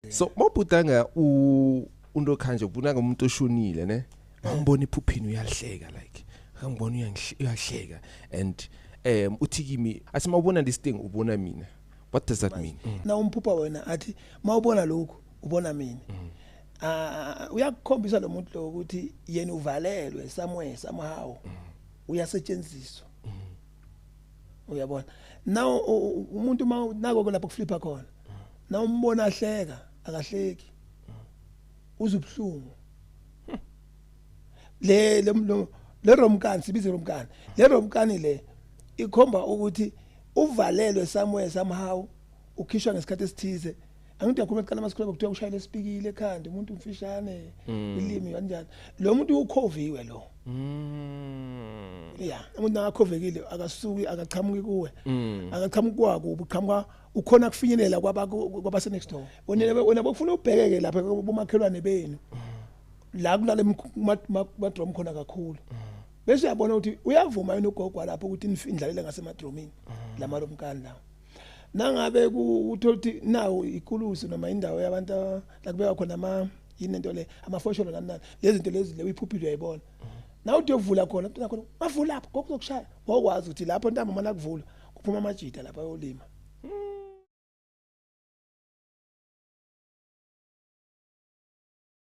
so mobhutanga u unto khanje ubunaka umuntu oshonile ne ngibona iphuphini uyahleka like ngibona uyahleka and um uthi kimi athi mawubona this thing ubona mina what does that mean mm. na umphupha wena athi mawubona lokhu ubona mina mm. ah uyakukhombisa lo muntu lo ukuthi yena uvalelwe somewhere somehow mm. uyasetshenziswa uyabona now umuntu uma nako lapho kuflipa khona na umbona ahleka akahleki uzubuhlungu le le romkani sibize romkani le romkani le ikhomba ukuthi uvalelwe somewhere somehow ukhishwa ngesikhathi esithize angithi akhuluma kuqala amasikole kuthiwa ushayile esipikile ekhanda umuntu umfishane mm. ilimi kanjani lo muntu ukhoviwe lo mm. ya umuntu nakakhovekile akasuki akaqhamuki kuwe mm. akaqhamuki kwako ubuqhamuka ukhona kufinyelela kwabase next door wena bokufuna ubhekeke lapha kumakhelwane benu la kulale madrom khona kakhulu bese uyabona ukuthi uyavuma yini ugogo lapho ukuthi indlalele ngasemadromini lama lomkani lawo nangabe uthola ukuthi nawo ikulusi noma indawo yabantu la kubeka khona ama yini into le amafosholo nani nani lezi zinto lezi le uyiphuphile uyayibona nawe uthi uyovula khona umntwana khona bavula lapho ngoku uzokushaya ngokwazi ukuthi lapho ntamba uma nakuvula kuphuma amajita lapha ayolima